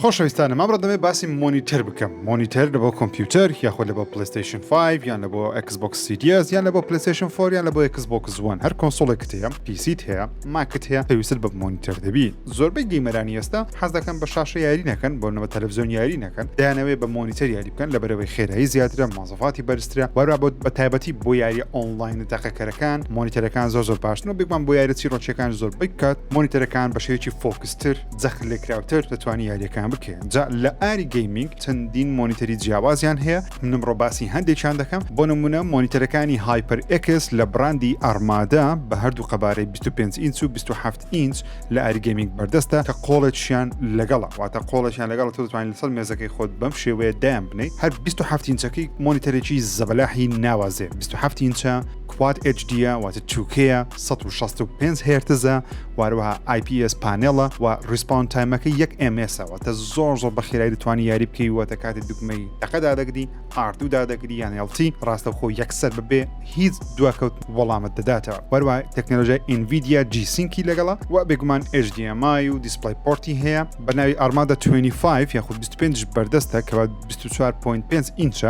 خۆشەویستانم ئەمڕۆ دەمێ باسی مۆنیتەر بکەم مۆنیتەر لە بۆ کۆمپیوتەر یاخۆ لە بۆ پلیستیشن 5 یان لە بۆ ئەکسبکس سیریەس یان لە بۆ پلیستیشن فۆریان لە بۆ ئەکسبکس زوان هەر کۆنسۆڵێکت هەیە پیسیت هەیە ماکت هەیە پێویست بە مۆنیتەر دەبی زۆربەی گەیمەرانی ئێستا حەز دەکەن بە شاشە یاری نەکەن بۆ نەبە تەلەڤزیۆن یاری نەکەن دەیانەوێ بە مۆنیتەر یاری بکەن لەبەرەوەی خێرایی زیاترە مۆزەفاتی بەرزترە وەرا بۆ بە تایبەتی بۆ یاریە ئۆنلاین تەقەکەرەکان مۆنیتەرەکان زۆر زۆر باشترن و بگمان بۆ یارە چیرۆکیەکان زۆربەی کات مۆنیتەرەکان بەشێکی فۆکستر جەخت لێکراوتر دەتوانانی یاریەکان بکەێت جا لە ئاری گەیمینگ چەندین مۆنیتەری جیاوازیان هەیە منم ڕۆباسی هەندێکیان دەکەم بۆ نمونە مۆنیتەرەکانی هایپەر ئکس لە براندی ئارمادا بە هەردوو قەبارەی 25 ئینچ و 27 ئینچ لە ئاری گەیمینگ بەردەستە کە قۆڵێکیان لەگەڵە واتە قۆڵێکیان لەگەڵ تۆ دەتوانین لەسەر مێزەکەی خۆت بەم شێوەیە دایان بنیت هەر 27 ئینچەکەی مۆنیتەرێکی زەبەلاحی ناوازێ 27 ئینچە کوات HDە واتە چووکەیە 1665 هێرتزە وهروها ئای پی ئێس پانێڵە وە ڕیسپاون تایمەکەی یەک ئێم ئێسە واتە زۆر زۆر بەخیرایی دەتوانی یاری بکەی واتە کاتێ دوگمەی تەقە دادەگری ئار دوو دادەگری یان ئێڵ تی ڕاستەوخۆ یەکسەر بەبێ هیچ دواکەوت وەڵامت دەداتەوە وەروە تەکنەلۆژیای ئینڤیدیا جی سینکی لەگەڵە وە بێگومان ئێچ دی ئێم ئای و دیسپلەی پۆرتی هەیە بەناوی ئارمادا توێنی فایڤ یاخود بیست و پێنج بەردەستە کەوە بیست و چوار پۆینت پێنج ئینچە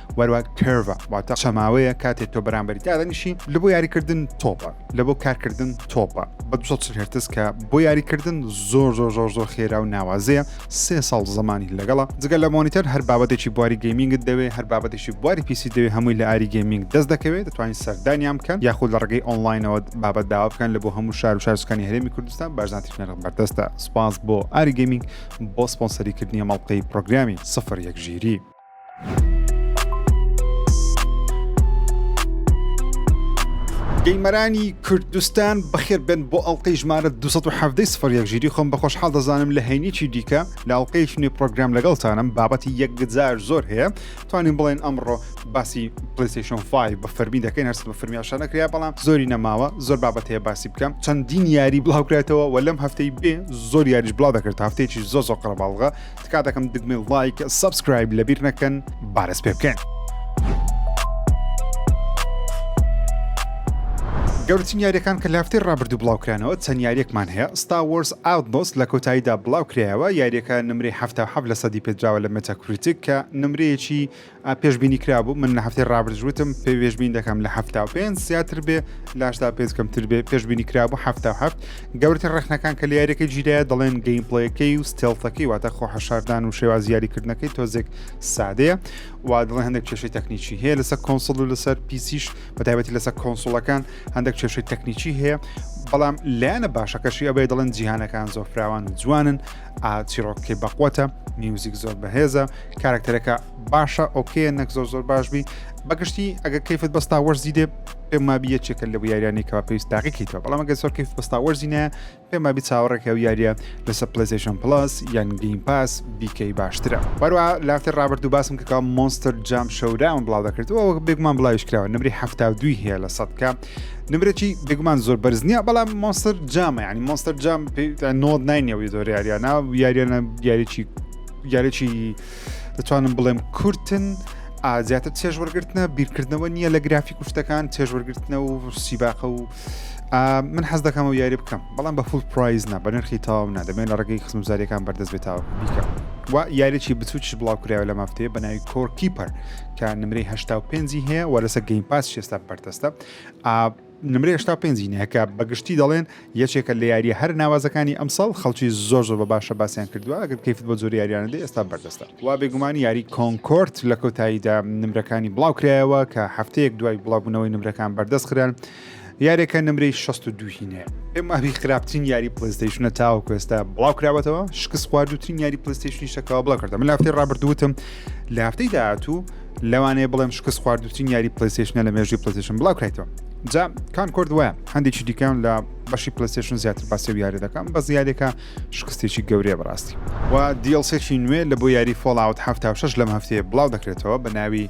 وەرە کەرڤە واتە چەماوەیە کاتێ تۆ بەرامبەری دادەنیشی لە بۆ یاریکردن تۆپە لە بۆ کارکردن تۆپە بە 240 هرتز کە بۆ یاریکردن زۆر زۆر زۆر زۆر خێرا و ناوازەیە سێ ساڵ زمانی لەگەڵە جگە لە مۆنیتەر هەر بابەتێکی بواری گەیمینگت دەوێ هەر بابەتێکی بواری پیسی دەوێ هەمووی لە ئاری گەیمینگ دەست دەکەوێت دەتوانین سەردانیان بکەن یاخود لە ڕگەی ئۆنلاینەوە بابەت داوا بکەن لە بۆ هەموو شار و شارسکانی هەرێمی کوردستان بارزانتیش نرخ بەردەستە سپاس بۆ ئاری گەیمینگ بۆ سپۆنسەریکردنی مەڵقەی پرۆگرامی سفر یەک ژیری گەیمەرانی کوردستان بەخێر بن بۆ ئەڵلقەی ژمارە 1970 سفر یەکژیری خۆم بە خۆشحاڵ دەزانم لە هەینێکی دیکە لە ئەڵلقەی شنی پرۆگرام لەگەڵتانم بابەتی یەکجار زۆر هەیە توانین بڵێن ئەمڕۆ باسی پلیسیشن 5 بە فەرمی دەکەین هەرس بە فەرمیاشە نەکریا بەڵام زۆری نەماوە زۆر بابەت هەیە باسی بکەم چەندین یاری بڵاوکرێتەوە و لەم هەفتەی بێ زۆر یاریش بڵاو دەکرێت هەفتێکی زۆ زۆ قەرەباڵغە تکا دەکەم دگمێ لایک سبسکرایب لەبیر نەکەن بارەس پێ بکەن. گەورترین یاریەکان کە لافتی ڕابردوو بڵاوکرانەوە چەند یاریەکمان هەیە ستا وەرس ئاودۆس لە کۆتاییدا بڵاو کرایەوە یاریەکە نمری هەفتا حەب لە سەدی پێدراوە لە مەتەکوریتیک کە نمرەیەکی پێشبینی کرابوو من لە هەفتەی ڕابرج وتم پێ وێژبین دەکەم لە هەفتا و پێنج زیاتر بێ لاشدا پێ کەمتر بێ پێشبینی کرابوو هەفتا و هەفت گەورتر ڕخنەکان کە لیارەکە جیرایە دەڵێن گەیم پڵەکەی و ستێڵتەکەی واتە خۆ حەشاردان و شێوازیاریکردنەکەی تۆزێک سادەیە وا دڵێ هەندێک کێشەی تەکنیکی هەیە لەسەر کۆنسڵ و لەسەر پیسیش بەتایبەتی لەسەر کۆنسڵەکان هەندێک کێشەی تەکنیکی هەیە بەڵام لایەنە باشەکەشی ئەبێ دەڵێن جیهانەکان زۆر فراوان و جوانن چیرۆکەکەی بەقوەتە میوزیک زۆر بەهێزە کارکتەرەکە باشە ئۆکێ نەک زۆر زۆر باش بی بەگشتی ئەگە کەیفت بەستا وەرز دیدێ پێمابی یەکێکە لە یاریانی کەوا پێویست تاقیکەیتەوە بەڵام ئەگە زۆر کەیف بەستا وەرزینە پێمابی چاوەڕێکە و یاریە لەسە پلسیشن پلاس یان گەیم پاس بیکەی باشترە بەروە لافتر ڕابرد و باسم کەکە مۆنستر جام شەوراون بڵاو دەکردەوە بێگومان بڵاویش کراوە نمری هەفتا دوی هەیە لە سەدکە نمرەی بێگومان زۆر بەرز نییە بەڵام مۆنستەر جامە ینی مۆنستەر جام نۆت نینەوەی زۆر یاریانە یاریانە یاریی یاریی دەتوانم بڵێم کورتن زیاتر چێژ وەرگرتنە بیرکردنەوە نییە لە گرافی کوشتەکان چێژ وەرگرتنە و سیباقە و من حەز دەکەمەوە یاری بکەم بەڵام بە فول پرایز نا بە نرخی تاو نا دەمێن لە ڕگەی خزمزاریەکان بەردەست بێتەوە بیکەم و یاریی بچووکیش بڵاو کراوە لە مافتەیە بە ناوی کۆرکیپەر کە نمرەی هەشتا و پێنجی هەیە و لەسەر گەیم پاس شێستا بەردەستە نمرە هشتا پێنجی نەکە بەگشتی دەڵێن یەکێکە لە یاریە هەر ناوازەکانی ئەمساڵ خەڵکی زۆر زۆر بە باشە باسییان کردووە ئەگەر کەیفت بۆ زۆر یاریانەدە ئێستا بەردەستە وا بێگومان یاری کۆنکۆرت لە کۆتاییدا نمرەکانی بڵاوکرایەوە کە هەفتەیەک دوای بڵاوبوونەوەی نمرەکان بەردەست خران یارێکە نمرەی 62 هینەیە ئێمە ئەوی خراپترین یاری پلیستیشنە تاوەکو ئێستا بڵاو کراوەتەوە شکست خواردوترین یاری پلیستیشنی شەکەوە بڵاو کردم لە هەفتەی ڕابردووتم لە هەفتەی داهاتوو لەوانەیە بڵێم شکست خواردوترین یاری پلیستیشنە لە مێژوی پلیستیشن بڵاو کرێتەوە جا کان کرد وایە هەندێکی دیکان لە بەشی پلیستیشن زیاتر باسی و یاری دەکەم بە زیادێکە شکستێکی گەورەیە بەڕاستی و دیڵسێکی نوێ لە بۆ یاری فۆڵاوت 76 لەم هەفتەیە بڵاو دەکرێتەوە بە ناوی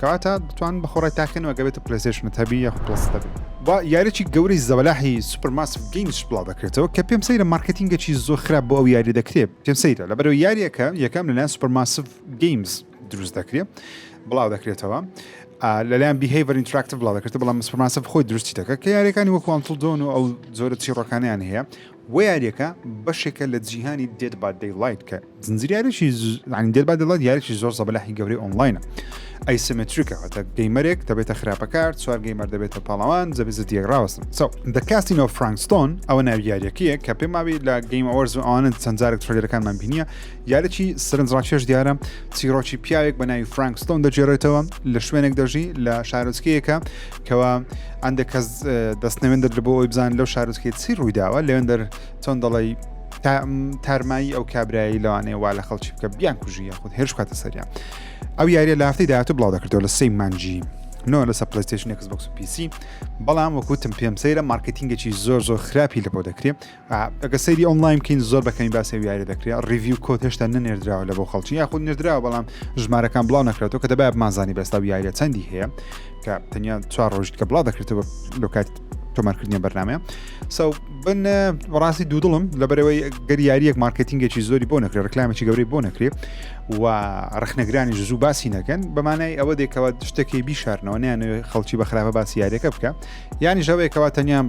کەواتە دەتوان بەخۆڕای تاقینەوە گەبێتە پلەسێشنت هەبی یاخ پلس دەبی با یاریی گەورەی زەبەلاحی سوپەرماس گەیمز بڵاو دەکرێتەوە کە پێم سەیرە مارکتینگەکی زۆر خراپ بۆ ئەو یاری دەکرێت پێم سەیرە لەبەرەوە یاریەکە یەکەم لەلایەن سوپەرماسف گەیمز دروست دەکرێت بڵاو دەکرێتەوە لەلایەن بیهیڤەر ئینتراکتیو بڵاو دەکرێت بەڵام سوپەرماسف خۆی درستی دەکە کە یاریەکانی وەکوانتڵ دۆن و ئەو زۆرە چیڕۆکانیان هەیە وە یاریەکە بەشێکە لە جیهانی دێد با دەی لایت کە زنجیر یاریی زانی دێد با دەی لایت یاریی زۆر زەبەلاحی گەورەی ئۆنلاینە ئەیسمتریکە هەتە گەیمەرێک دەبێتە خراپەکار چوار گەیمەر دەبێتە پاڵەوان جەبێت زە دیێک ڕاوەستن سەو دەکاستینەوە فرانکستۆن ئەوە ناوی یاریەکەیە کە پێم ماوی لە گەیم ئەوەرز و ئەوانە چەندجارێک ترلەکانمان بینیە یاریی سرنج ڕاکێش دیارە چیرۆکی پیاوێک بە ناوی فرانکستۆن دەجێڕێتەوە لە شوێنێک دەژی لە شارۆچکەیەکە کەوا ئەندێک کەس دەستنەوێن دەدر بۆ ئەوی بزان لەو شارۆچکێت چی ڕوویداوە لەوێن دەر چۆن دەڵی تارمایی ئەو کابرایی لەوانەیە وا لە خەڵکی بکە بیان کوژیە خود هێرش کاتە سەریان ئەو یاریە لە هەفتی داهاتوو بڵاو دەکردەوە لە سی مانجی نۆ لەسە پلیستشن کس بکس پیسی بەڵام وەکوتم پێم سەیرە مارکتینگێکی زۆر زۆر خراپی لە بۆ دەکرێت ئەگە سەیری ئۆنلاین بکەین زۆر بەکەمی باسی و یاری دەکرێت ڕیوی کۆت هێشتا نەنێردراوە لە بۆ خەڵکی یاخود نێردراوە بەڵام ژمارەکان بڵاو نەکرێتەوە کە دەبای بمانزانی بەستا و یاریە چەندی هەیە کە تەنیا چوار ڕۆژیت کە بڵاو دەکرێتەوە لە کات تۆمارکردنی بەرنمە سو بن ڕاستی دوودڵم لەبەرەوەی گەری یاریەک مارکتینگێکی زۆری بۆ نەکرێت ڕکلامێکی گەورەی بۆ نەکرێت و ڕخنەگرانی زوو باسی نەکەن بەمانای ئەوە دێکەوە شتەکەی بیشارنەوە نیان خەڵکی بە خراپە باسی یاریەکە بکە یانی ژەوەیەکەوە تەنیان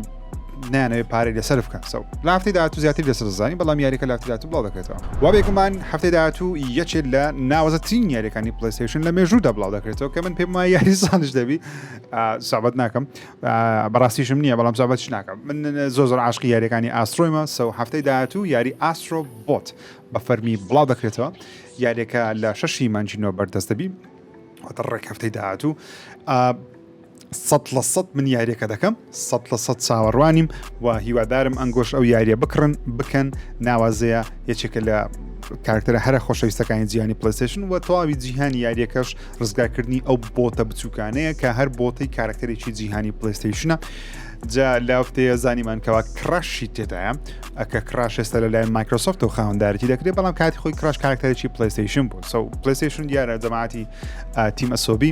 نانەوێت پارەی لەسەر بکەن سەو لە هەفتەی داهاتوو زیاتری لەسەر زانین بەڵام یاریەکە لە هەفتەی داهاتوو بڵاو دەکرێتەوە وا بێگومان هەفتەی داهاتوو یەکێک لە ناوەزەترین یاریەکانی پلیستیشن لە مێژوودا بڵاو دەکرێتەوە کە من پێم وایە یاری ساڵش دەبی سابەت ناکەم بەڕاستیشم نییە بەڵام سابەتش ناکەم من زۆر زۆر عاشقی یاریەکانی ئاسترۆیمە سەو هەفتەی داهاتوو یاری ئاسترۆ بۆت بە فەرمی بڵاو دەکرێتەوە یاریەکە لە شەشی مانجینەوە بەردەست دەبی واتە ڕێک هەفتەی داهاتوو سەد لە سەد من یاریەکە دەکەم سەد لە سەد چاوەڕوانیم و هیوادارم ئەنگۆش ئەو یاریە بکڕن بکەن ناوازەیە یەکێکە لە کارکتەرە هەرە خۆشەویستەکانی جیانی پلیسشن و تەواوی جیهانی یاریەکەش ڕزگارکردنی ئەو بۆتە بچووکانەیە کە هەر بۆتەی کارکتەرێکی جیهانی پلیستیشنە جا لافتەیە زانیمان کەوا کڕاشی تێدایە ئەکە کڕاش ئێستا لە لایەن مایکرۆسۆفت و خاوەندارەتی دەکرێت بەڵام کاتی خۆی کڕاش کارکتەرێکی پلیستیشن بوو سو پلیستیشن دیارە جەماعتی تیم ئەسۆبی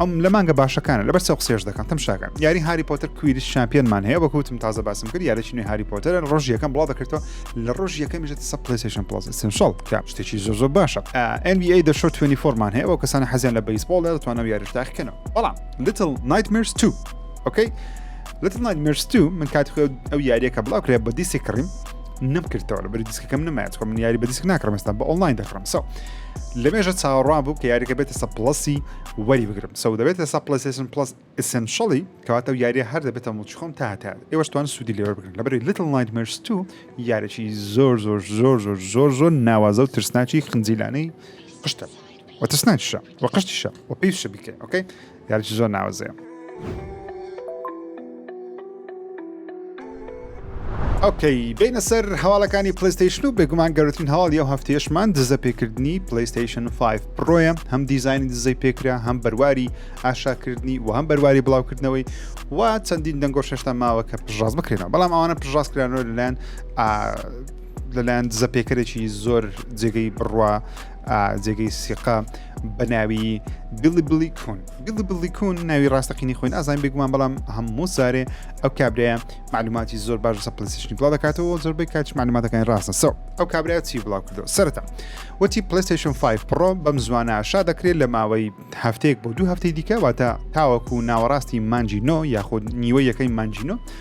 ئەم لە مانگە باشەکانە لەبەر سەو قسێش دەکەم تم شاکەن یاری هاری پۆتەر کویری شامپیۆنمان هەیە بە کوتم تازە باسم کرد یارێکی نوێ هاری پۆتەر ڕۆژ یەکەم بڵاو دەکردەوە لە ڕۆژ یەکەم میژێت سە پلیسیشن پڵس سنشڵ کە شتێکی زۆ زۆ باشە NBA دە شۆ 24مان هەیە بۆ کەسانی حەزیان لە بەیسبۆڵ لە توانەوە یاریش داخکەنەوە بەڵام لتل نایتمرس 2 ئۆکەی لتل نایتمرس 2 من کات خۆ ئەو یاریەکە بڵاو کرێ بە دیسی کڕیم نەمکردەوە لە بەری دیسکەکەم نمایەت خۆ من یاری بە دیسک ناکڕمستان بە ئۆنلاین دەکڕم سەو لەمێژە چاوەڕوان بوو کە یاریەکە بێتە سە پڵسی وەری بگرم سەو دەبێت لەسا پلسیشن پلس ئسنشڵی کەواتە و یاریە هەر دەبێتە مڵچ خۆم تا هەتا ئێوەشتوان سوودی لێوە بگرن لەبری لیتل نایت مرس تو یارێکی زۆر زۆر زۆر زۆر زۆر زۆر ناوازە و ترسناچی خنجیلانەی قشتە وە ترسناکیشە وە قشتیشە وە پێیشە بیکە ئۆکەی یارێکی زۆر ناوازەیە ئۆکەی بینە سەر هەواڵەکانی پلیستیشن و بێگومان گەورتن هەواڵ یە هەفتێشمان دزە پێکردنی پلیستیشن 5 پرۆیە هەم دیزانی دزەی پێکرا هەم بەرواری ئاشاکردنی و هەم بەرواری بڵاوکردنەوەی و چەندین دەنگۆ شێشتا ماوە کە پژاز بکرێنەوە بەڵام ئەوانە پژاز کرانەوە لەلایەن لەلایەن دزە پێکەرێکی زۆر جێگەی بڕوا جێگەی سیقا بەناوی بلی بلی کون گلبلی کون ناوی ڕاستەقینی خۆی نازانین بێگومان بەڵام هەموو سارێ ئەو کابرایە معلوماتی زۆر باش لەسە پلیستشنی بڵاو دەکاتەوە زۆربەی کاچ معلوماتەکانی ڕاستە سەو ئەو کابرا چی بڵاو کردو سەرتا وتی پلیستشن 5 پڕۆ بەم زوانە شا دەکرێت لە ماوەی هەفتەیەک بۆ دوو هەفتەی دیکە واتە تاوەکو ناوەڕاستی مانجینۆ یاخود نیوە یەکەی مانجینۆ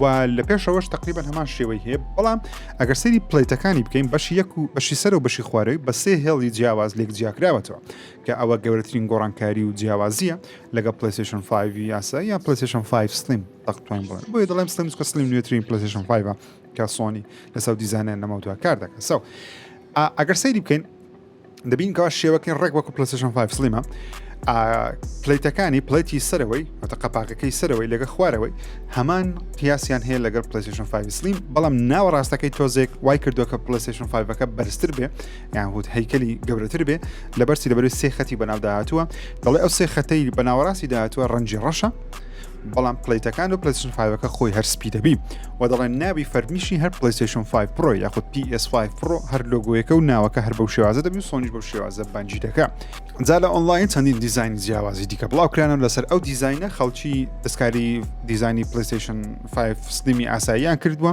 و لە پێشەوەش تقریبان هەمان شێوەی هەیە بەڵام ئەگەر سری پلیتەکانی بکەین بەشی یەک و بەشی سەر و بەشی خوارەوەی بە سێ هێڵی جیاواز لێک جیاکراوەتەوە کە ئەوە گەورەترین گۆڕانکاری و جیاوازیە لەگە پلیسشن 5 یاسا یا پلیسشن 5 سلیم تەختوین بڵێن بۆی دەڵێم سلیم کە سلیم نوێترین پلیسشن 5 کە سۆنی لەسەر دیزانیان نەمەوتوە کار دەکە سەو ئەگەر سەیری بکەین دەبین کە شێوەکەی ڕێک وەکو پلسشن 5 سلیمە پلیتەکانی پلیتی سەرەوەی ئەتە قەپاکەکەی سەرەوەی لەگە خوارەوەی هەمان قیاسیان هەیە لەگەر پلیسشن 5 سلیم بەڵام ناوەڕاستەکەی تۆزێک وای کردو کە پلیسشن 5ەکە بەرزتر بێ یان هوت هەیکەلی گەورەتر بێ لە بەرسی لەبەر سێ خەتی بەناو داهاتووە دەڵێ ئەو سێ خەتەی بەناوەڕاستی داهاتوە ڕەنجی ڕەشە بەڵام پلەیتەکان و پلەسن فیڤەکە خۆی هەر سپی دەبی و دەڵێن ناوی فەرمیشی هەر پلیسشن 5 پرۆ یاخود PS5 پرۆ هەر لۆگویەکە و ناوەکە هەر بەو شێوازە دەبی سۆنیش بەو شێوازە بەنجی دەکە جا لە ئۆنلاین چەندین دیزین جیاوازی دیکە بڵاوکرانە لەسەر ئەو دیزینە خەڵکی دەستکاری دیزانی پلیسشن 5 سلیمی ئاساییان کردووە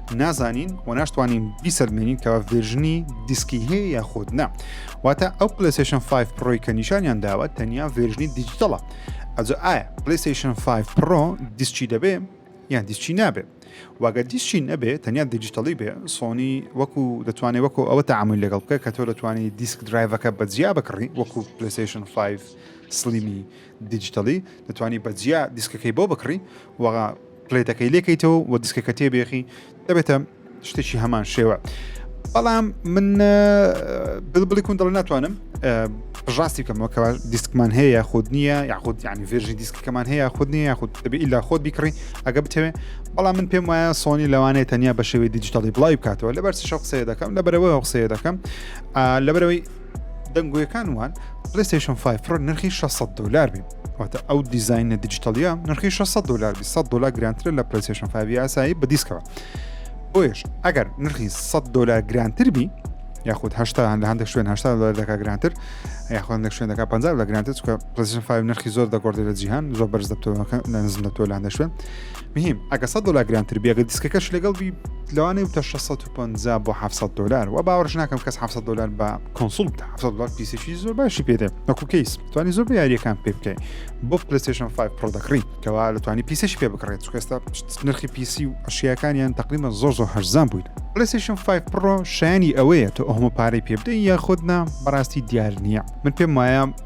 نازانین و ناشتوانین بیسەلمێنین کەوا ڤێرژنی دیسکی هەیە یاخود نا واتە ئەو پلیسشن 5 پڕۆی کە نیشانیان داوە تەنیا ڤێرژنی دیجیتەڵە ئەجا ئایا پلیسشن 5 پڕۆ دیسکی دەبێ یان دیسکی نابێ واگە دیسکی نەبێ تەنیا دیجیتەڵی بێ سۆنی وەکو دەتوانێت وەکو ئەوە تعامل لەگەڵ بکە کە تۆ دەتوانانی دیسک درایڤەکە بەجیا بکڕی وەکو پلیسشن 5 سلیمی دیجیتەڵی دەتوانانی بەجیا دیسکەکەی بۆ بکڕی وەڵا پلەیتەکەی لێکەیتەوە و دیسکەکە تێبێخی دەبێتە شتێکی هەمان شێوە بەڵام من بڵبڵی کون دڵ ناتوانم ڕاستی بکەمەوە کەوا دیسکمان هەیە یاخود نییە یاخود یعنی ڤێژی دیسکەکەمان هەیە یاخود نیە یاخود دەبێت ئیلا خۆت بیکڕی ئەگە بتەوێت بەڵام من پێم وایە سۆنی لەوانەیە تەنیا بە شێوەی دیجیتالی بڵاوی بکاتەوە لەبەر چ شخصەیە دەکەم لەبەرەوەی هەخصەیە دەکەم لەبەرەوەی دەنگۆیەکان وان پلەیستەیشن 5 پرۆ نرخی 600 دلار بێ واتە ئەو دیزینە دیجیتەڵە نرخی 600 دلار 100 دلار گرانترە لە پلەیستەیشن 5 یاسایی بە دیسکەوە بۆیش ئەگەر نرخی 100 دلار گرانتر بی یاخود هشتان لە هەندێک شوێن هشتا دلار دەکا گرانتر یاخۆن لە شوێن دەکا 50 لە گرانتر چکە پلەیستەیشن 5 نرخی زۆر دەگۆڕێت لە جیهان زۆر بەرز دەبتەوە نزم دەبتەوە لە هەندێک شوێن مهیم ئەگە سەد دۆلار گرانتر بی ئەگە دیسکەکەش لەگەڵ بی لەوانەیە بتە 650 بۆ 700 دلار و باوەش ناکەم کەس 700 دلار بە کۆنسول بتە 700 دلار پیسێکی زۆر باشی پێدێ وەکو کەیس توانی زۆر بە یاریەکان پێ بکەی بۆ پلیستشن 5 پرۆ دەکڕی کەوا لە توانی پیسێکی پێ بکڕێت چکەستا نرخی پیسی و ئەشیەکانیان تقریبا زۆر زۆر هەرزان بوویت پلیستشن 5 پرۆ شایانی ئەوەیە تۆ ئەومە پارەی پێ بدەی یاخود نا بەڕاستی دیار نییە من پێم وایە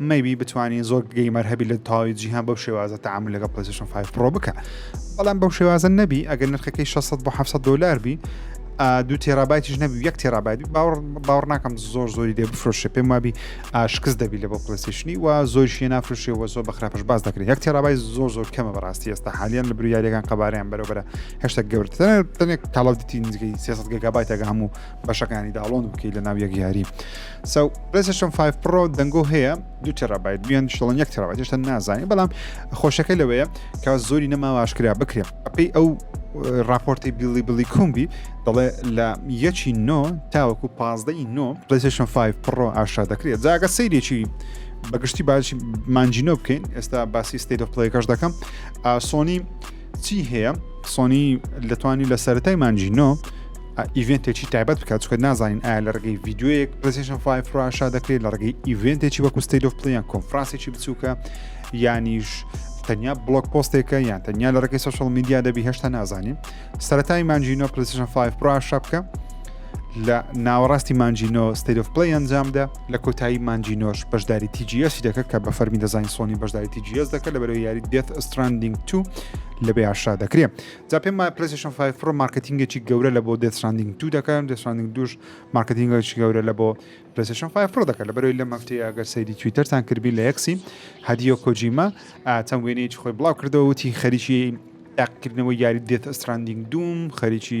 مەیبی بتوانین زۆر گەیمەر هەبی لە تەواوی جیهان بەو شێوازە تعامل لەگە پلسشن 5 پرۆ بکە بەڵام بەو شێوازە نەبی ئەگەر نرخەکەی 600 بۆ 700 دلار بی دو تێرابایتیش نەبی یەک تێرابایت باوەڕ باوەڕ ناکەم زۆر زۆری دێ بفرۆشە پێم وابی ئاشکست دەبی لە بۆ پلسیشنی و زۆرشیە نافرشێ وە زۆر بەخراپش باز دەکرێت یەک تێرابای زۆر زۆر کەمە بەڕاستی ئێستا حالیان لە بریارەکان قەباریان بەرەبرە هشتا گەورت تەنێک کاڵەتی نزیکەی 300 گەگابایتەگە هەموو بەشەکانی داڵۆن بکەیت لە ناو یەک یاری سەو پلەسشم 5 پڕۆ دەنگۆ هەیە دو تێرابیت دویان شڵن یەک تێرابیت هێشتا نازانین بەڵام خۆشەکە لەوەیە کە زۆری نەماوە ئاشکرا بکرێن ئەپی ئەو راپۆرتی بیلی بلی کومبی دەڵێ لە یەکی نۆ تاوەکو پازدەی نۆ پلیسشن 5 پڕۆ ئاشا دەکرێت جاگە سەیرێکی بەگشتی باش مانجینۆ بکەین ئێستا باسی ستیت پلەکەش دەکەم سۆنی چی هەیە سۆنی لەتوانی لە سەرای مانجینۆ ئیڤێنتێکی تایبەت بکات چکە نازانین ئایا لە ڕگەی یددیوەیەک پلسیشن 5 فراشا دەکرێت لە ڕگەی ئیڤێنتێکی وەکو ستیل of پلیان کۆنفرانسێکی بچووکە یانیش تەنیا بلۆک پۆستێکە یان تەنیا لە ڕێکی سوشل میدیا دەبی هێشتا نازانین سەتای مانجینۆ پلسیشن 5 فراشا بکە لە ناوەڕاستی مانجینۆ ستیل of پلی ئەنجامدا لە کۆتایی مانجینۆش بەشداری تیجیسی دەکە کە بە فەرمی دەزانین سۆنی بەشداری تیجیس دەکە لە بەرەوە یاری دێت ئەستراندینگ تو لە بێ ئاشرا دەکرێت جا پێم وایە پلەیستەیشن فایڤ پڕۆ مارکەتینگێکی گەورە لە بۆ دێت ستراندینگ دوو دەکەن دێت ستراندینگ دووش مارکەتینگێکی گەورە لە بۆ پلەیستەیشن فایڤ پڕۆ دەکەن لەبەرەوەی لەم هەفتەیە ئەگەر سەیری تویتەرتان کردبین لە یەکسی هەدیۆ کۆجیما ئا، چەند وێنەیەکی خۆی بڵاو کردەوە وتی خەریکی تاقیکردنەوەی یاری دێت ستراندینگ دووم خەریکی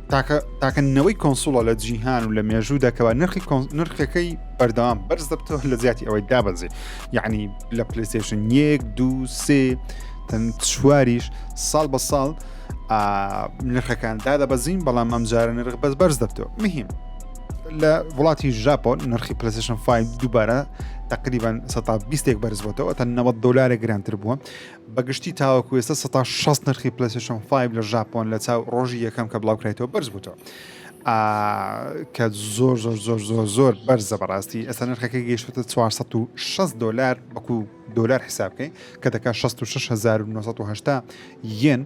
تاکە تاکە نەوەی کۆنسوڵە لە جیهان و لە مێژوو دەکەوە نرخی نرخەکەی بەردەوام بەرز دەبتەوە لە زیاتی ئەوەی دابەزی یعنی لە پلیسشن یەک دو سێ تەن چواریش ساڵ بە ساڵ نرخەکان دادەبەزین بەڵام ئەمجارە نرخ بەس بەرز دەبتەوە مهم لە وڵاتی ژاپۆن نرخی پلیسشن 5 دووبارە تقریبان 120 بەرزبتەوە تا 90 دلار گرانتر بووە بە گشتی تاوەکو ئێستا سەد تا شەست نرخی پلەیستێشن 5 لە ژاپۆن لە چاو ڕۆژی یەکەم کە بڵاوکرایتەوە بەرز بووتەوە ئا کە زۆر زۆر زۆر زۆر زۆر بەرزە بەڕاستی ئێستا نرخەکە گەیشتوتە 460 دلار وەکو دلار حساب بکەین کە دەکات 66980 یەن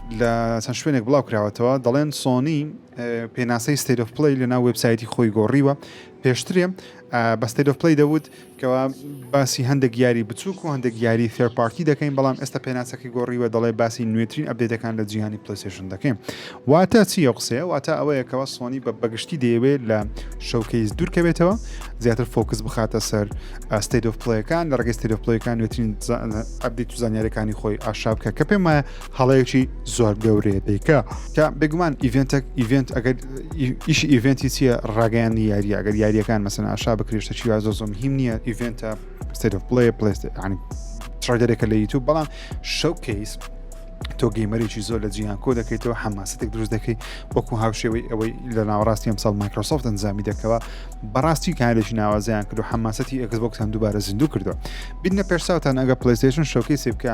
لە چەند شوێنێک بڵاوکراوەتەوە دەڵێن سۆنی پێناسەی ستەیرۆف پلی لە ناو وبسایەتی خۆی گۆڕیوە پێشترێ بە ستەیرۆف پلی دەوت کەوا باسی هەندێک یاری بچووک و هەندێک یاری فێرپارتی دەکەین بەڵام ئێستا پێناسەکە گۆڕیوە دەڵێ باسی نوێترین ئەبدێتەکان لە جیهانی پلیسێشن دەکەین واتە چی ئەو قسەیە واتە ئەوەیەکەوە سۆنی بە بەگشتی دەیەوێت لە شەوکەیز دوورکەوێتەوە زیاتر فۆکس بخاتە سەر ستەیرۆف پلیەکان لە ڕگەی ستەیرۆف پلیەکان نوێترین ئەبدی تو زانانیارەکانی خۆی ئاشابکە کە پێم وایە هەڵەیەکی زۆر گەورەیە دەیکا کە بێگومان ئیڤێنتەک ئیڤێنت ئەگەر ئیش ئیڤێنتی چییە ڕاگەیانی یاری ئەگەر یاریەکان مەسن ئاشا بکرێشتە چی زۆ زۆم هیم نییە ئیڤێنتە ستێت پلی پلیست ینی تڕگەرێکە لە یوتوب بەڵام شەو کەیس تۆ گەیمەرێکی زۆر لە جیان کۆ دەکەیتەوە حەماسەتێک دروست دەکەی وەکو هاوشێوەی ئەوەی لە ناوەڕاستی ئەمساڵ مایکرۆسۆفت ئەنجامی دەکەوە بەڕاستی کارێکی ناوازیان کرد و حەماسەتی ئەکسبکتان دووبارە زیندوو کردو بینە پێشساوتان ئەگە پلیستشن شوکەی سێبکە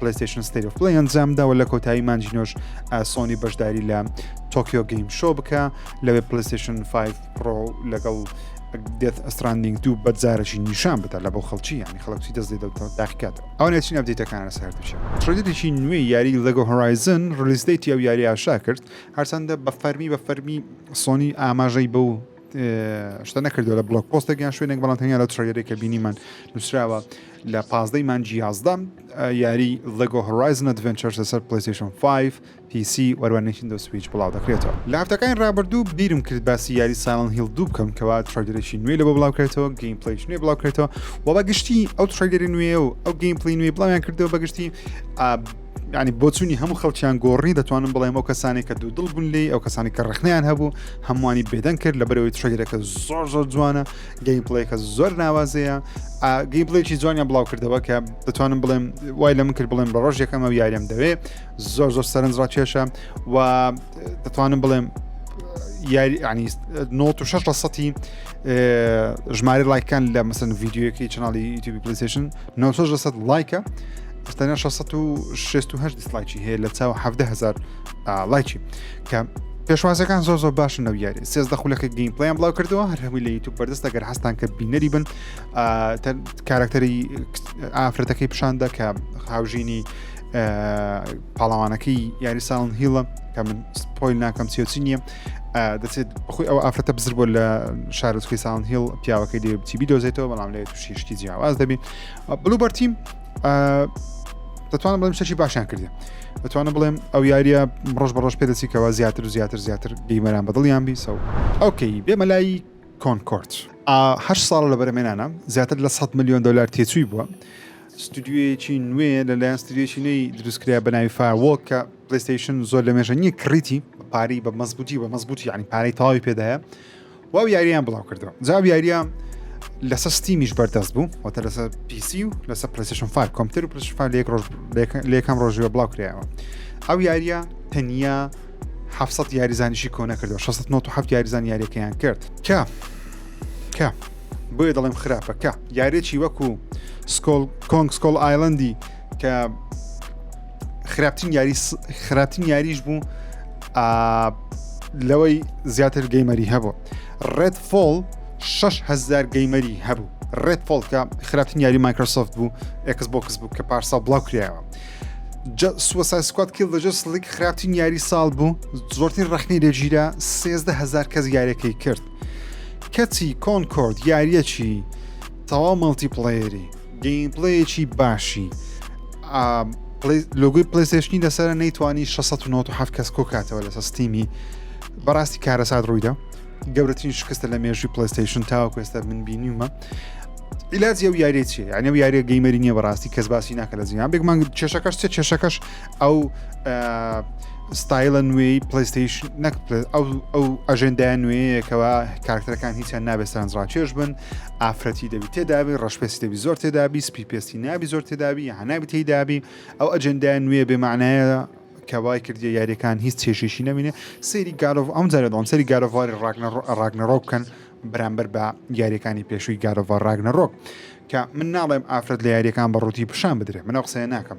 پلەستیشن ستری فڵی ئەنجامدا و لە کۆتایی مانجینۆش سۆنی بەشداری لە تۆکیۆ گەیم شۆ بکە لەوێ پلیستیشن 5 پرۆ لەگەڵ دێت ئەستراندنگ دوو بەجارەشی نیشان بدا لە بۆ خەڵکی ینی خەڵکی دەست لێ داخکات ئەو نێچین ئەبدیتەکان لەسەر دوچێت ترێدێکی نوێ یاری لەگە هۆرایزن ڕلیستەیتی ئەو یاری ئاشا کرد هەرچەندە بە فەرمی بە فەرمی سۆنی ئاماژەی بە و شتە نەکردو لە بڵۆک پۆستێک یان شوێنێک بەڵام تەنیا لە تڕێری کە بینیمان نووسراوە لە پازدەی مانجی یازدەم یاری لەگۆ هۆرایزن ئەدڤنچەر لەسەر پلیسیشن 5 PC وەروانێکی دۆ سویچ بڵاو دەکرێتەوە لە هەفتەکانی ڕابردوو بیرم کرد باسی یاری ساڵن هیل دوو بکەم کەوا تڕێگەرێکی نوێ لە بۆ بڵاوکرێتەوە گەیم پلیش نوێ بڵاوکرێتەوە و بە گشتی ئەو تڕێگەری نوێ و ئەو گەیم پلی نوێ بڵاویان کردەوە بەگشتی ینی بۆچوونی هەموو خەڵکیان گۆڕی دەتوانم بڵێم ئەو کەسانی کە دوو دڵ بوون لی ئەو کەسانی کە ڕخنیان هەبوو هەمووانی بێدەنگ کرد لە بەرەوەی ترێگرەکە زۆر زۆر جوانە گەیم پڵێکە زۆر ناوازەیە گەیم پڵێکی جوانیان بڵاو کردەوە کە دەتوانم بڵێم وای لە من کرد بڵێم بە ڕۆژ یەکەمە یاریم دەوێ زۆر زۆر سەرنج ڕاکێشە و دەتوانم بڵێم یاری عنی 96 لە سەی ژمارە لایکان لە مەسن ڤیددیوەکەی چناڵی یوتیوبی پلیسیشن 96 لە سە لایکە تەنیا 668 دیسلایکی هەیە لە چاو 17000 لایکی کە پێشوازەکان زۆر زۆر باشن لەو یاری سێزدە خولەکە گەیم پلیان بڵاو کردەوە هەر هەمووی لە یوتوب بەردەست دەگەر هەستان کە بینەری بن کارکتەری ئافرەتەکەی پیشاندا کە هاوژینی پاڵاوانەکەی یاری ساڵن هیڵە کە من سپۆیل ناکەم سیۆچی نییە دەچێت بخۆی ئەو ئافرەتە بزر بۆ لە شارۆچکی ساڵن هیڵ پیاوەکەی دێ بچی بیدۆزێتەوە بەڵام لێ تووشیشتی جیاواز دەبین بلوبەرتیم دەتوانم بڵێم شەشی باشیان کردی دەتوانم بڵێم ئەو یاریە ڕۆژ بە ڕۆژ پێدەچیکەوە زیاتر و زیاتر زیاتر گەیمەران بەدڵیان بیسەوە ئەوکەی بێمە لای کۆنکۆرت هە ساڵ لە بەرەمێنانە زیاتر لە 100 میلیۆن دلار تێچووی بووە ستودیویەکی نوێ لەلایەن ستودیویەکی نوێی دروستکرا بە ناوی فاوۆک کە پلیستیشن زۆر لە مێژە نییە کڕیتی پارەی بە مەزبوتی بە مەزبوتی ینی پارەی تەواوی پێدایە و ئەو یاریان بڵاو کردەوە جا ئەو یاریە لەسەر ستیمیش بەردەست بوو وەتە لەسەر پیسی و لەسەر پلیسشن فار کۆمپتر و پلیشفا لێک ڕۆژ لێکم ڕۆژیوە بڵاو کرایەوە ئەو یاریە تەنیا 700 یاریزانیشی کۆنە کردەوە 1697 یاریزان یاریەکەیان کرد کە کە بۆیە دەڵێم خراپەکە یارێکی وەکو سکۆل کۆنگ سکۆل ئایلندی کە خراپترین یاری خراپترین یاریش بوو لەوەی زیاتر گەیمەری هەبوو ڕێت فۆڵ 6هزار گەیمەری هەبوو ڕێت فۆڵکە خراپترین یاری مایکرۆسۆفت بوو ئەکس بۆکس بوو کە پارسا بڵاو کرایەوە سوسایسکات کیل دەجس لیک خراپترین یاری ساڵ بوو زۆرترین ڕخنی لێژیرە 1هزار کەس یارەکەی کرد کەچی کۆنکۆرد یاریەکی تەواو مەڵتی پڵەیەری گەیمپلەیەکی باشی لۆگوی پلیسشنی لەسەر نەیتوانی 1697 کەس کۆکاتەوە لەسە ستیمی بەڕاستی کارەسات ڕوویدا گەورەترین شکستە لە مێژوی پلیستشن تاوەکو ئێستا من بینیمە عیلاج ئەو یاری چی یعنی و یاری گەیمەری نییە بەڕاستی کەس باسی ناکە لە زیان بێک مانگ کێشەکەش چێ کێشەکەش ئەو ستایلە نوێی پلیستشن نەک ئەو ئەو ئەژێندای نوێیەکەوە کارکتەرەکان هیچیان نابێت سەرنجڕاکێش بن ئافرەتی دەبی تێدابی ڕەشپێسی دەبی زۆر تێدابی سپی پێستی نابی زۆر تێدابی هەنابی تێدابی ئەو ئەجندای نوێ بێمانایە کەوای کردی یاریەکان هیچ چێشێکی نەمینێ سەیری گارۆڤ ئەم جارە دەڵم سەری گارۆڤاری ڕاگنەڕۆ بکەن بەرامبەر بە یاریەکانی پێشووی گارۆڤ ڕاگنەڕۆک کە من ناڵێم ئافرەت لە یاریەکان بە ڕووتی پیشان بدرێ منە قسەیە ناکەم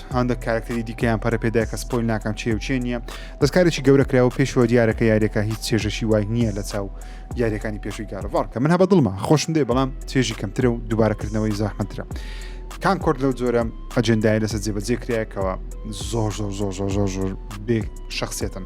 هاندەک کارکتەری دیکەیان پەرەپێدای کە سپۆیل ناکەم چێ و چێ نییە دەستکارێکی گەورە کراوە پێشەوە دیارەکە یاریەکە هیچ چێژەشی وای نییە لە چاو یاریەکانی پێشوی گارڤڵ کە من هەبە دڵما خۆشم دێ بەڵام چێژی کەمترە و دووبارەکردنەوەی زاحمەترە کان کۆرد لەو جۆرە ئەجندای لەسەر جێبەجێ کرایەکەوە زۆر زۆر زۆر زۆر زۆر زۆر بێ شخصێتن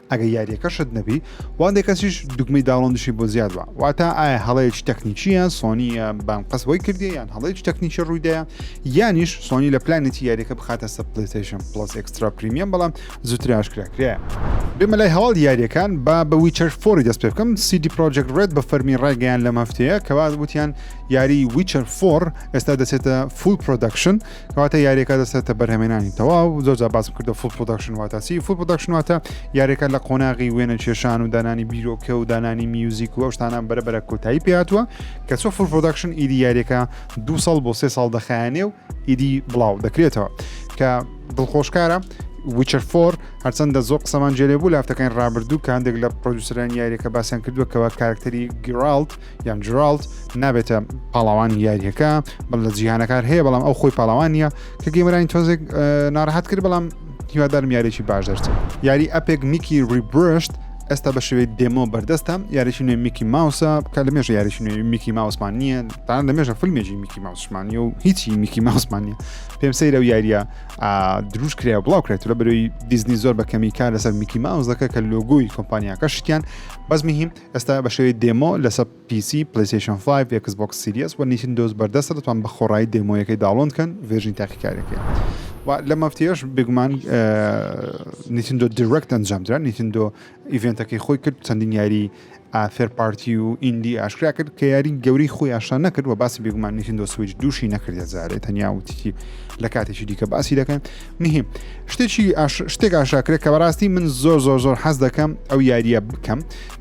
ئەگەر یاریەکە شت نەبی واندێ کەسیش دوگمەی داڵندشی بۆ زیاد بە واتا ئایا هەڵەیەکی تەکنیکیە سۆنیە بەم قەس بۆی کردی یان هەڵەیەکی تەکنیکی ڕوویدایە یانیش سۆنی لە پلانێتی یاریەکە بخاتە سە پلیتەیشن پلس ئەکسترا پریمیەم بەڵام زوتراش کراکرێ. بێمە لای هەواڵ یاریەکان با بە ویچەر فۆری دەست پێ بکەم سیدی پرۆجێک ڕێت بە فەرمی ڕایگەیان لەم هەفتەیە کەوا وتیان یاری ویچەر فۆر ئێستا دەچێتە فول پرۆدەکشن کەواتە یاریەکە دەسێتە بەرهەمێنانی تەواو زۆر باسم کردو فول پرۆداکشن واتا چی فول پرۆداکشن واتە یاریەکە لە قۆناغی وێنە کێشان و دانانی بیرۆکە و دانانی میوزیک و ئەوشتانە بەرەبەرە کۆتایی پێاتوە کە چۆ فول پرۆداکشن ئیدی یاریەکە دو ساڵ بۆ سێ ساڵ دەخایانێ و ئیدی بڵاو دەکرێتەوە کە دڵخۆشکارە وچەر فۆر هەرچەندە زۆر قسەمان جێلێ بوو لافتەکانی ڕابردوو کە هەندێک لە پرۆدوسران یاریەکە باسیان کردووە کەوا کارکتەری گرالت یان جرالد نابێتە پاڵاوانی یاریەکە بەڵ لە جیهانەکار هەیە بەڵام ئەو خۆی پاڵاوانە کە گەمرانی تۆزێک ناڕحەت کرد بەڵام هیوادارم یاریی باش دەرچێت یاری ئەپێک میکی ریبرشت ئێستا بە شێوەی دێمۆ بەردەستە یاریی نوێ میکی ماوسە کە لە مێژە یاریی نوێ میکی ماوسمان نییە تا لە مێژە فیلمێکی میکی ماوسمانی و هیچی میکی ماوسمان نیە پێم سەیرە و یاریە دروست کرێ بڵاو کرێت لە بەرەوەی دیزنی زۆر بە کەمی کار لەسەر میکی ماوس دەکە کە لۆگوی کۆمپانیاکە شتیان بەزمی هیم ئێستا بە شێوەی دێمۆ لەسەر پی سی، پلەیستەیشن فایڤ، ئێکس بۆکس سیریەس و نیتندۆس بەردەستە دەتوان بە خۆڕایی دێمۆیەکەی داوڵۆند کەن ڤێرژنی تاقیکاریەکەی و لەم هەفتەیەش بێگومان نیتندۆ دیرەکت ئەنجامدرا نیتندۆ ئیڤێنتەکەی خۆی کرد چەندین یاری ئافێر پارتی و ئیندی ئاشکرا کرد کە یاری گەوری خۆی ئاشان نەکرد و باسی بێگومان نیتندۆ سویچ دووشی نەکردێت زارێ تەنیا وتیی لە کاتێکی دیکە باسی دەکەن نهیم شتێکی شتێک ئاشاکرێت کە بەڕاستی من زۆر زۆر زۆر حەز دەکەم ئەو یاریە بکەم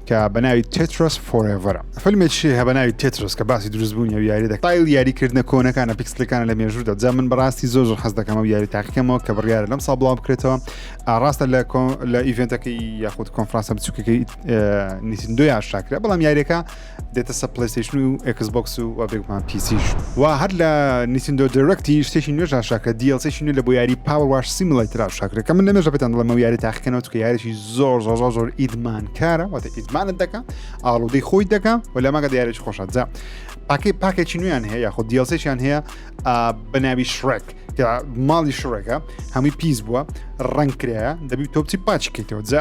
کە بەناوی تێترس فۆرێڤرە فیلمێکی هە بەناوی تێترس کە باسی دروستبوونی و یاری دەکایل یاریکردنە کۆنەکانە پیکسلەکان لە مێژوودا جا من بەڕاستی زۆر زۆر حەز دەکەم و یاری تاقیکەمەوە کە بڕیارە لەم سا بڵاو بکرێتەوە ئاڕاستە لە لە ئیڤێنتەکەی یاخود کۆنفرانسە بچووکەکەی نیسندۆ یاشاکرێت بەڵام یاریەکە دێتە سە پلەیستیشن و ئێکس بۆکس و وا بێگومان پیسیش وا هەر لە نیسندۆ دەرەکتی شتێکی نوێژ شاکرە دیڵسێکی نوێ لە بۆ یاری پاوە واش سیملای تررا شاکرە کە من لە مێژە بتان دڵمە یاری تاقیکەنەوە کە یاریی زۆر زۆر زۆر زۆر ئیدمان کارە واتە ئیدمانت دەکە ئاڵودەی خۆی دەکە و لە ماگە دیارێک خۆشەجا پاکی پاکێکی نوێیان هەیە یاخود دیڵسێکیان هەیە بەناوی شڕێک کە ماڵی شڕێکە هەمووی پیس بووە ڕنگ کرایە دەبی تۆپچی پاچکەیتەوە جا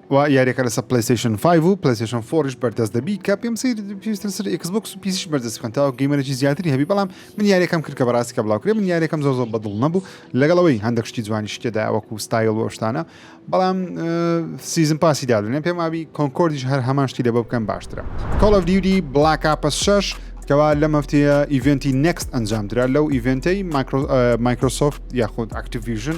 و یاریەکە لەسە پلەیستەیشن 5 و پلەیستەیشن 4ش بەردەست دەبی کە پێم سیر پێویستە لەسەر ئێکس بۆکس و پیسیش بەردەست بکەن تاوەکو گەیمەرێکی زیاتری هەبی بەڵام من یاریەکەم کرد کە بەڕاستی کە بڵاوکرێ من یاریەکەم زۆر زۆر بەدڵ نەبوو لەگەڵ ئەوەی هەندێک شتی جوانی شتێدا وەکو ستایل و شتانە بەڵام سیزن پاسی دادنێ پێم ئاوی کۆنکۆردیش هەر هەمان شتی لە بۆ بکەن باشترە کۆڵ ئەف دیودی بڵاک ئاپە 6 کەوا لەم هەفتەیە ئیڤنتی نەکست ئەنجام درا لەو ئیڤنتەی مایکرۆسۆفت یاخود ئەکتیڤژن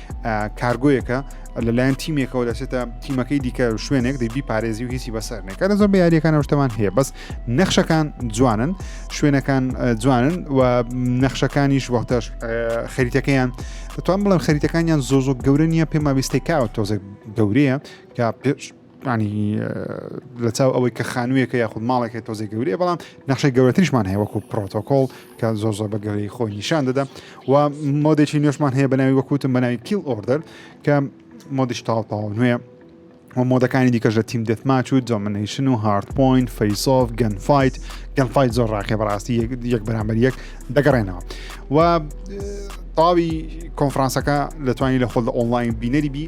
کارگۆیەکە لەلایەن تیمێکەوە دەچێتە تیمەکەی دیکە و شوێنێک دەبی پارێزی و هیچی بەسەرنێک کە زۆر یاریەکان شتەمان هەیە بەس نەخشەکان جوانن شوێنەکان جوانن و نەخشەکانیش وەختەش خەریتەکەیان دەتوان بڵێن خەریتەکانیان زۆ زۆ گەورە نیە پێما بیستێکاوە تۆزێک گەورەیە کە پێش یانی لەچاو ئەوەی کە خانوویەکە یاخود ماڵێکە تۆزی گەورەیە بەڵام نەخشەی گەورەتریشمان هەیە وەکو پرۆتۆکۆڵ کە زۆر زۆر بە گەورەی خۆی نیشان دەدا و مۆدێکی نوێشمان هەیە بەناوی وەکوتم بەناوی کیل ئۆردەر کە مۆدیش تاڵپاوە نوێ و مۆدەکانی دیکەش لە تیم دەتماچ و جۆمنیشن و هارد پوینت فەیسۆف گەن فیت گەن فیت زۆر ڕاقێ بەڕاستی یەک بەرامبەر یەک دەگەڕێنەوە و تاوی کۆنفرانسەکە لەتوانی لە خۆ لە ئۆنلاین بینەری بی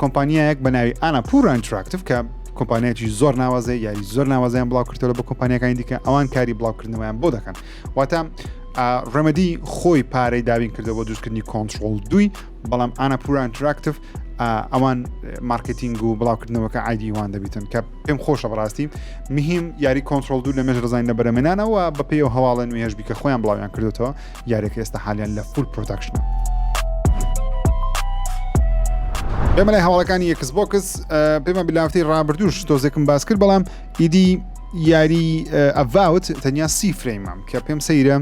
کۆمپانیایەک بە ناوی ئانا پورا ئینتراکتیف کە کۆمپانیایکی زۆر ناوازێ یاری زۆر ناوازیان بڵاوکردەوە بە کۆمپانیەکانی دیکە ئەوان کاری بڵاوکردنەوەیان بۆ دەکەن واتە ڕەمەدی خۆی پارەی دابین کردەوە دروستکردنی کۆنتترۆل دوی بەڵام ئانا پورا ئینتراکتیف ئەوان مارکتینگ و بڵاوکردنەوەکە ئایدیوان دەبیتن کە پێم خۆشە بڕاستی مهم یاری کۆنتترۆل دوو لە مێژ ڕزانین لە بەرەمێنانەوە بە پێی و هەواڵە نوێژبی کە خۆیان بڵاویان کردوەوە یاریەکە ئێستا حالیان لە فول پرۆداکشنە ئێمە لای هەواڵەکانی یەکس بۆکس پێمە بلافتەی ڕابردوش تۆزێکم باس کرد بەڵام ئیدی یاری ئەڤاوت تەنیا سی فرەیمام کە پێم سەیرە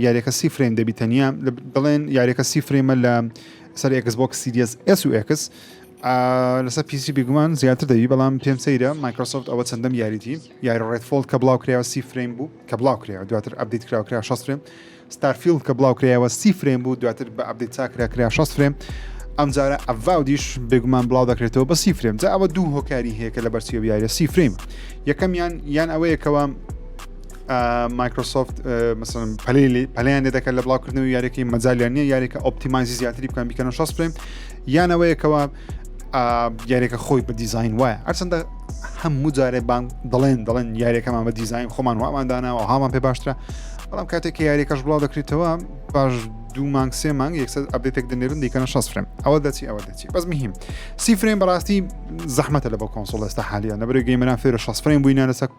یاریەکە سی فرەیم دەبی تەنیا دەڵێن یاریەکە سی فرەیمە لە سەر ئەکس بۆکس سیریس ئەس و ئەکس لەسەر پیسی بگومان زیاتر دەوی بەڵام پێم سەیرە مایکرۆسۆفت ئەوە چەندەم یاریتی یاری ڕێدفۆڵ کە بڵاوکرایەوە سی فرەیم بوو کە بڵاوکرایەوە دواتر ئەپدەیت کراو کرا شەست فرەیم ستارفیڵد کە بڵاوکرایەوە سی فرەیم بوو دواتر بە ئەپدەیت چاکرا کرا شەست فرەیم ئەمجارە ئەڤاودیش بێگومان بڵاو دەکرێتەوە بە سی فرەیم جا ئەوە دوو هۆکاری هەیە کە لە بەرچی بیارە سی فرەیم یەکەمیان یان ئەوەیەکەوە مایکرۆسۆفت مەسن پەلی پەلیان لێ دەکەن لە بڵاوکردنەوە یاریەکەی مەجاالیان نیە یاریەکە ئۆپتیمانزی زیاتری بکەن بیکەنە شەست فرەیم یانەوەیەکەوە یاریەکە خۆی بە دیزین وایە هەرچەندە هەموو جارێ بان دەڵێن دەڵێن یاریەکەمان بە دیزین خۆمان واماندانەوە هامان پێ باشترە بەڵام کاتێک کە یاریەکەش بڵاو دەکرێتەوە باش دوو مانگ سێ مانگ یەکسەر ئەبێتێک دەنێرن دیکەنە شەس فرم ئەوە دەچی ئەوە دەچی بەس مهم سی فرێن بەڕاستی زەحمەتە لە بە کۆنسۆڵ ئێستا حالیان نەبرێ گەیمەران فێرە شەس فرێن بووینە لەسەر